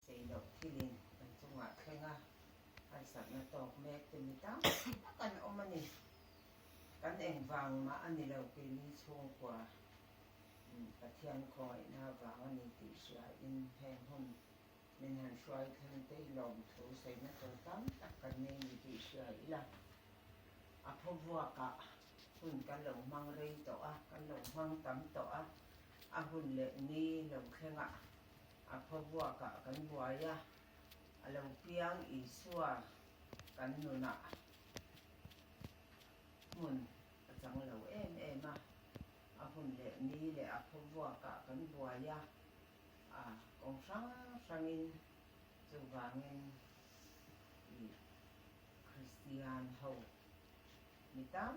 Cheiloh thilin kan chungah thleng a harsatna tawk mekte mi tam tak an awm a ni. Kan engvang mah a nilo tih ni chhungkua Pathian khawngaihna vang a ni tih hriain heng hun min han hruai thlen tei lawm thu saina tur tam tak kan nei ni tih hria ila a phuavuakah hun kan lo hmang rei tawh a, kan lo hmang tam tawh a, a hun leh ni lo thlengah. A phavuakah kan buai a, a lo piang Isua kan nunah hmun a chang lo em em a, a hun leh ni leh a phavuakah kan buai a, a kawng hrang hrangin chuvangin i Kristian ho ni tam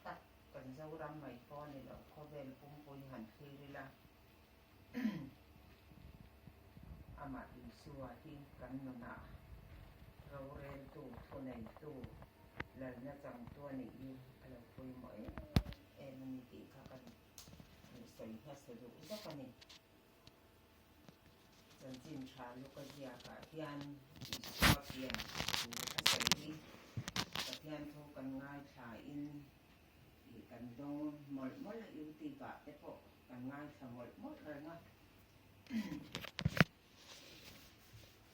tak kan Zoram mai pawh a ni lo khawvel pumpui han thlir ila. Amah Isua hi kan nunah roreltu, thuneitu, lalna changtu a nih hi a lo pawimawh em a ni tih kha kan hmuh sawi nasa duh zawk a ni. Chanchin tha Luka ziakah hian Isua pian thu a sawi hi Pathian thu kan ngaithla in, I kan dawn mawlh mawlh a you tube ah te pawh kan ngaithla mawlh mawlh reng a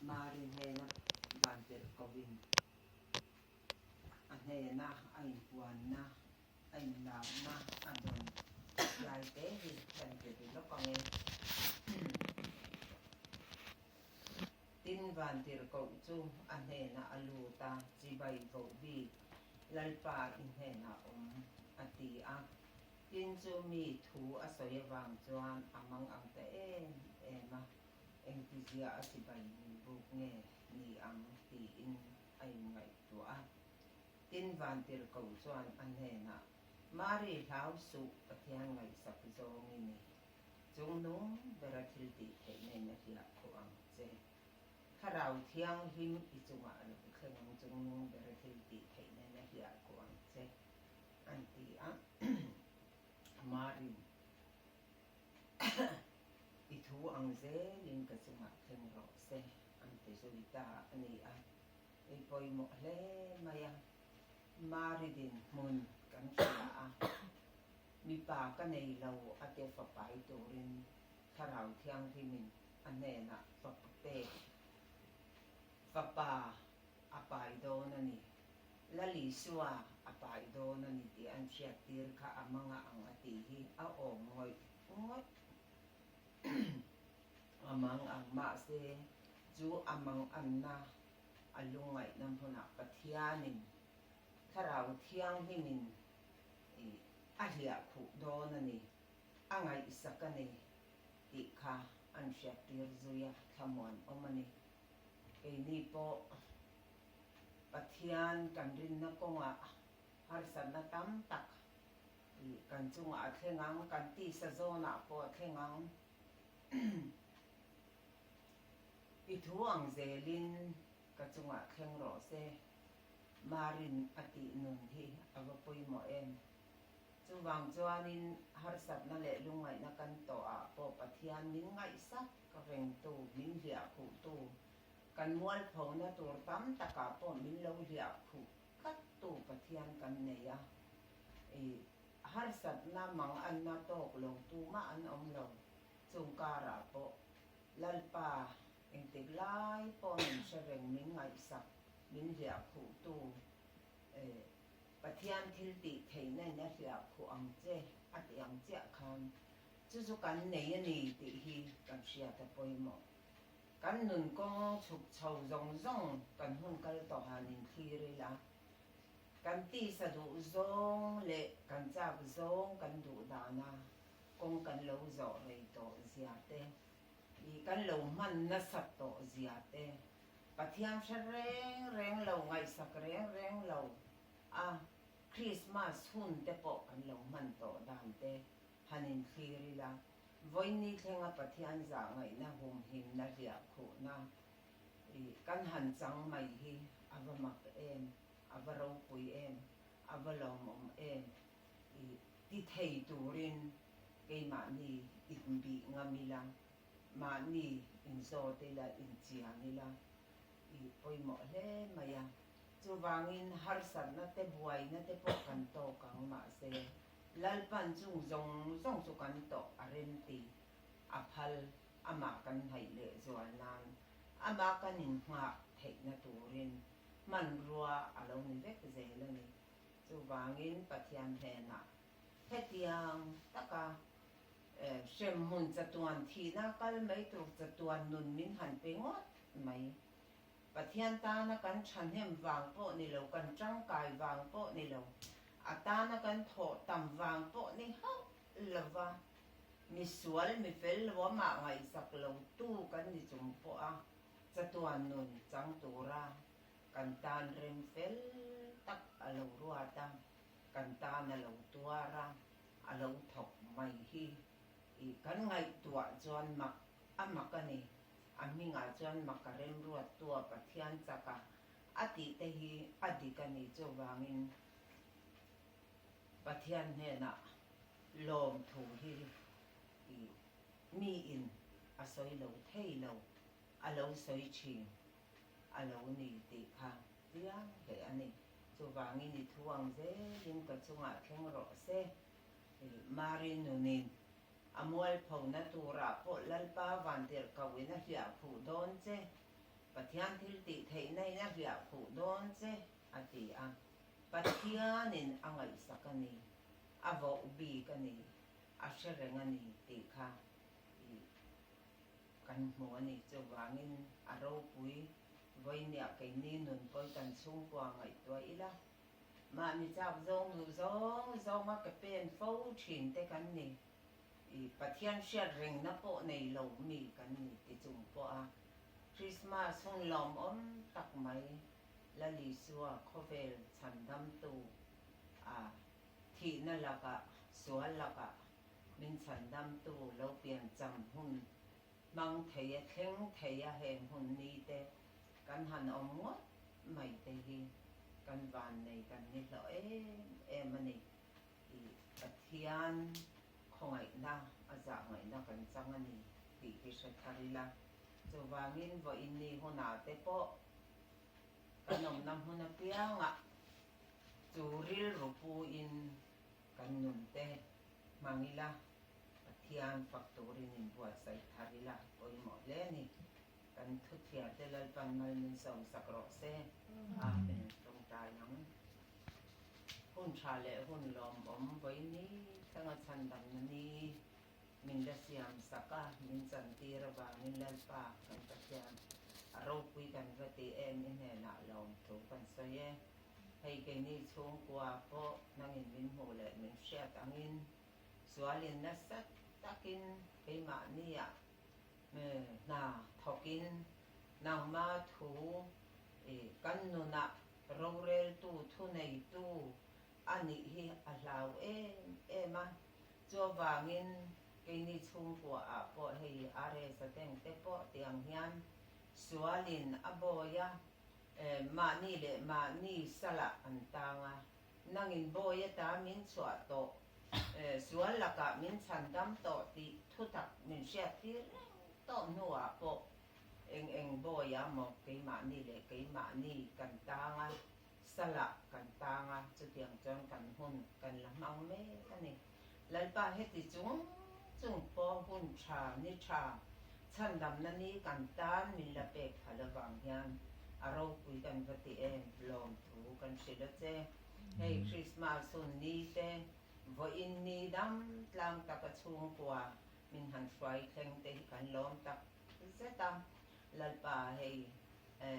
Mari hnena van telh ko in a hnena a in puan na a in lam na a dawn lai te hi kan pe ri lawk ang e. tin Vantirhkoh chu a hnenah a lut a, Chibai voh bik, Lalpa i hnenah awm, a ti a. Tin chu mi thu a sawi avang chuan a mang ang ta em em a, engtizia a chibai min buk nge ni ang tiin a inngaihtuah a. Tin Vantirhkoh chuan a hnenah Mari hlau suh Pathian ngaihsak zawng i ni. Chungnung bera thil tih theih nen a hliah khawh ang che. Thlarau thianghlim i chungah a lang thleng ang chungnung bera thil tih theih nen a hliah khawh ang che an ti a. Marin I thu ang zel in ka chungah thleng rawh se an ti zui ta a ni a. Ei pawimawh hle mai a, Maridin hmun kan hria a, mipa ka nei lo a te fapai turin Thlarau Thianghlimin a hnenah va pek, Fapa, a pai dawn a ni, Lali Sua, a pai dawn a ni tih an chhiattir kha a manga ang a tih hi a awm ngawih ngawt a mang ang mahse chu a mang anna A lungngaihna hmunah Pathianin Thlarau Thianghlim'n i a hliah khuh dawn a ni, a ngaihsak a ni tih kha an hriattir zui a, thlamuan awm a ni. Keini pawh Pathian kan rinna kawngah harsatna tam tak kan chungah a thleng ang, kan tisa zawnah pawh a thleng ang. I thu ang zelin ka chungah thleng rawh se, Marin a tih nun hi a va pawimawh em? Chuvang chuanin harsatna leh lungngaihna kan tawh ah pawh Pathian min ngaihsak ka vengtu, min hliahkhuhtu, kan mualphona tur tam takah pawh min lo hliahkhuh tlattu Pathian kan nei a. I Harsatna manganna tawk lo tumah an awm lo. Chung karah pawh Lalpa engtik lai pawh min hre reng, min ngaihsak, min hliah khuhtu Pathian thiltih theihna ina hliah khuh ang che a tih ang chiah khan chu chu kan nei a ni tih hi kan hria ta pawimawh. Kan nun kawng chhuk chho zawng zawng kan hun kal tawh han in thlir ila. Kan tisa duh zawng leh kan chak zawng kan duh dan a, kawng kan lo zawh rei tawh zia te, ih kan lo hman nasat tawh zia te, Pathian hre reng reng lo, ngaihsak reng reng lo a Krismas hun te pawh kan lo hman tawh dan te han inthlir ila, vawiin ni thlenga Pathian zahngaihna humhimna hliah khuhna Ih, kan han chang mai hi a va mak em, a va ropui em, a va lawmawm em? Ih, ti thei turin keimahni inbih ngam ila, mahni inzawt ila, inchiang ila. Ih, pawimawh hle mai a. Chuvangin harsatna te buaina te pawh kan tawk ang mahse, Lalpan chung zawng zawng chu kan tawh a rem ti, a phal amah kan hnaih leh zual nan amah kan in nghah theihna turin hmanrua a lo ni vek zel a ni. Chuvangin Pathian hnenah hetiang taka hremhmun chatuan thihna kal mai tur chatuan nun min han pe ngawt mai. Pathian tana kan thahnem vang pawh ni lo, kan tangkai vang pawh ni lo, a tana kan thawh tam vang pawh ni hauh! lova, misual mifel nuamah ngaihsak lotu kan ni chung pawha chatuan nun chang tura kan tan rem fel tak a lo ruat a, kan tan a lo tuar a, a lo thawk mai hi i kan ngaihtuah chuan mak a mak a ni, a hmingah chuan mak a rem ruat tu a Pathian chak a, a tihte hi a dik a ni chuvangin, Pathian hnenah lawmthu hi miin a sawi lo thei lo, a lo sawi thin a lo ni tih kha chiang hle a ni. Chuvangin i thu ang zelin ka chungah thleng rawh se. Mari nunin a mualphona turah pawh Lalpa vantirh kohin a hliah phuh dawn che, Pathian thiltihtheihna in a hliah phuh dawn che a ti a. Pathianin a ngaihsak a ni, a vauh bik a ni, a hre reng a ni tih kha ih kan hmu a ni. Chuvangin a ropui vawinia keini nunpawi kan chhungkua a ngaihtuah ila. Mah mi chak zawng duh zawng zawnga ke pen fo thin te kan ni. Ih Pathian hriat rengna pawh nei lo mi kan ni ti chung pawha Krismas hung lawmawm tak mai Lalisua khawvel chhandamtu a thihna lakah, sual lakah min chhandamtu lo piancham hun hmang theia, thleng theia he hmun ni te kan han awm ngawt mai te hi kan vannei kan ni hlawh em em a ni. I Pathian khawngaihna a zah ngaihna kan chang a ni tih hi hre thar ila, chuvangin vawiin ni hunah te pawh Kan awmna hmun apianga chu rilru puin kan nunte hmang ila, Pathian fak turin inbuatsaih thar ila pawimawh hle ni. Kan thutthiarte Lalpan mal min sawmsak rawh se. Amen. Tawngtai ang. Hun tha leh hun lawmawm vawi ni thleng a chhandamna ni. min la siam sak a, min chantir avangin Lalpa kan Pathian a ropui kan va ti em i hnenah lawm thu kan sawi e. Hei keni chhungkua pawh nangin min hmuh leh min hriat angin sualin nasat takin keimahnia hna thawkin nangma thu i kan nunah roreltu, thuneitu a nih hi a hlau em em a, Chuvangin, keini chhungkua ah pawh hei aa resa teng te pawh tiang hian sual in a bawi a, eh, mahni leh mahni salah an tang a, nang in bawi a ta min chhuah tawh, eh, sual lakah min chhan dam tawh tih thutak min hriat fir reng tawh hnu ah pawh eng eng bawi ah maw keimahni leh keimahni kan tang a. Sala kan tang a, chutiang chuan kan hun kan la hmang mek a ni. Lalpa heti chung chung pawh hun tha ni tha chhandamna ni kan tan min la pek hal avang hian a ropui kan va ti em? Lawmthu kan hrilh a che. Hei Krismas hun ni te, vawiin ni dam tlang taka chhungkua min han hruai thleng te hi kan lawm tak. zet a, Lalpa hei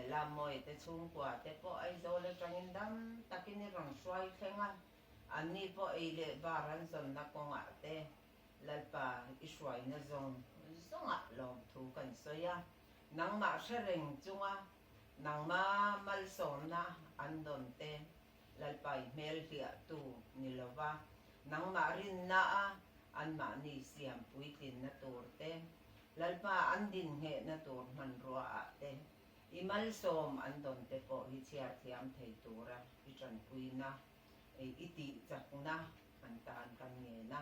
Lamawii te chhungkua te pawh Aizawl atangin dam takin i rawn hruai thleng a, an ni pawh ei leh bar an zawnna kawngah te Lalpa i hruaina zawng zawngah lawm thu kan sawi a, nangmah hre reng chunga nangma malsawmna an dawn te Lalpa i hmelhliah tu ni lo va, nangmah rinna a anmahni siam puitlinna tur te Lalpa an dinhnehna tur hmanruaah te i malsawm an dawn te pawh hi chhiarthiam thei tura i tanpuina, i tihchakna han tan kan ngen a.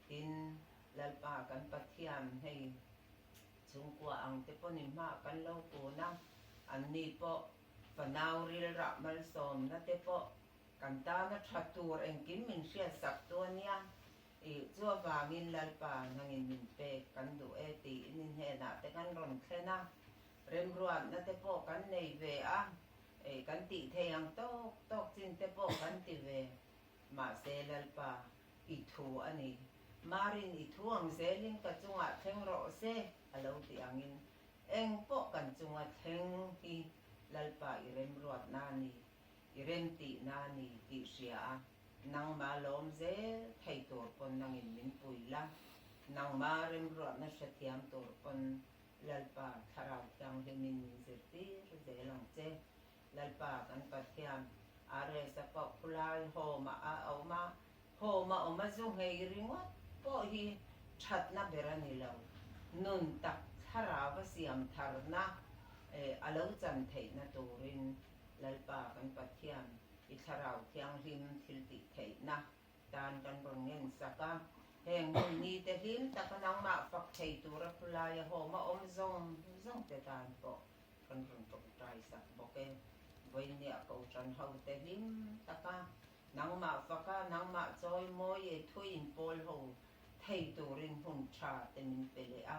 Tin, Lalpa kan Pathian hei chhungkua ang te pawh ni hmah kan lo kun a, anni pawh fanau rilrah malsawmna te pawh kan tana tha tur engkim min hriatsak tu a nia. Ih zuar vangin Lalpa hmangin min pek kan duh e tiin i hnenah te kan rawn thlen a, remruatna te pawh kan nei ve a, ih kan tih thei ang tawk tawk chin te pawh kan ti ve. Mahse Lalpa i thu a ni. Marin i thu ang zelin ka chungah thleng rawh se a lo ti angin eng pawh kan chunga thleng hi Lalpa i remruatna a ni, i remtihna a ni tih hria a. Nangma lawm zel thei tur pawn nangin min pui la, nangma remruahna hre thiam tur pawn Lalpa Thlarau Thianghlimin min zirtir zel ang che. Lalpa kan Pathian Aresa pawh khulai hawma a awm a, hawma awma zu nghei ringawt pawh hi thatna ber a ni lo. Nun tak thlarava siam tharna a lo chan theihna turin Lalpa kan Pathian, i Thlarau Thianghlim thiltih theihna tan kan rawn ngensak a. Heng hmun nite hlim taka nangmah fak thei tura khulai a hawm a awm zawng zawng te tan pawh kan rawn tawngtai sak bawk e. Vawinia ka u ṭanho te hlim taka nangmah faka nangmah chawi mawi e thu inpawlho thei turin hun ṭha te min pe leh a.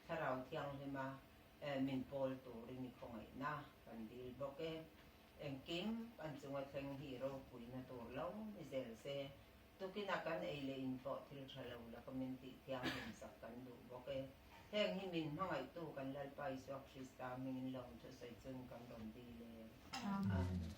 Thlarau Thianghlim a Min pawl tur i mi khawngaihna kan dil bawk e. Engkim kan chunga thleng hi ropuina tur lo ni zel se, tukin a kan ei leh inpawh thil tha lo la ka min tih thiam hlim sak kan duh bawk e. Heng hi min hmangaihtu kan Lalpa Isua Krista mingin lawm thusawi chun kan rawn dil e. Amen.